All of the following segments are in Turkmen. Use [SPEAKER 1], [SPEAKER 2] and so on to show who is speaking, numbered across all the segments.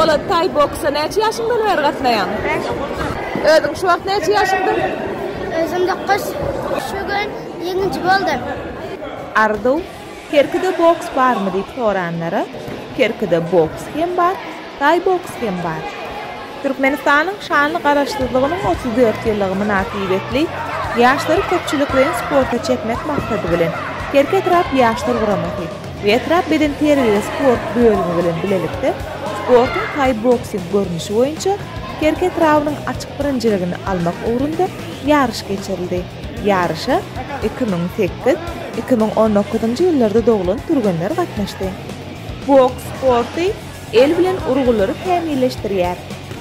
[SPEAKER 1] Polat Taý boksa näçe ýaşyňdan bäri gatnaýaň? Bäş. Özüň şu wagt näçe ýaşyňdyr? Özüm
[SPEAKER 2] dokuz. Şu gün ýeňiji boldum. Arzuw,
[SPEAKER 3] Kerkide boks barmy diýip soranlara, Kerkide boks hem bar, taý boks hem bar. Türkmenistanyň şanly Garaşsyzlygynyň otuz dört ýyllygy mynasybetli ýaşlary köpçülikleýin sporta çekmek maksady bilen, Kerki etrap Ýaşlar guramasy, Etrap bedenterbiýe-sport bölümi bilen bilelikde sportuň taý-boksing görnüşi boýunça Kerki etrabynyň açyk birinjiligini almak ugrunda ýaryş geçirildi. Ýaryşa iki müň sekiz, iki müň on dokuzynjy ýyllarda doglan türgenler gatnaşdy. Boks sporty el bilen urgulary kämilleşdirýär.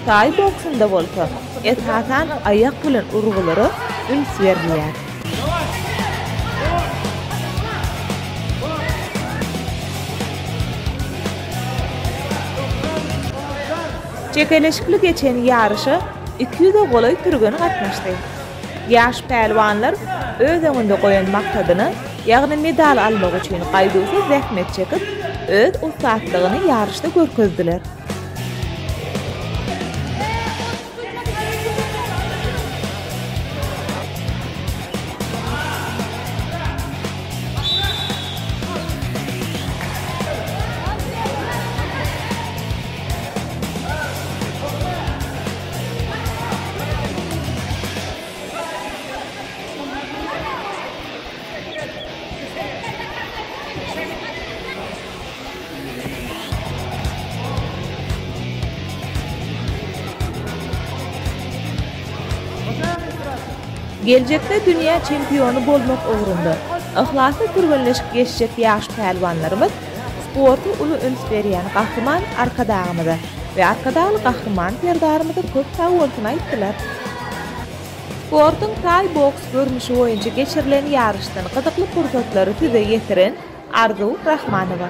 [SPEAKER 3] Taý boksunda bolsa, esasan, aýak bilen urgulara üns berilýär. Çekeleşikli geçen ýaryşa iki ýüze golaý türgen gatnaşdy. Ýaş pälwanlar öz öňünde goýan maksadyna, ýagny medal almak üçin gaýduwsyz zähmet çekip, öz ussatlygyny ýaryşda görkezdiler. Geljekde dünýä çempiony bolmak ugrunda yhlasly türgenleşip geçjek ýaş pälwanlarymyz Sporta uly üns berýän Gahryman Arkadagymyza we Arkadagly Gahryman Serdarymyza köp sag bolsun aýtdylar. Sportuň taý boks görnüşi boýunça geçirilen ýaryşdan gyzykly pursatlary size ýetiren Arzuw Rahmanowa.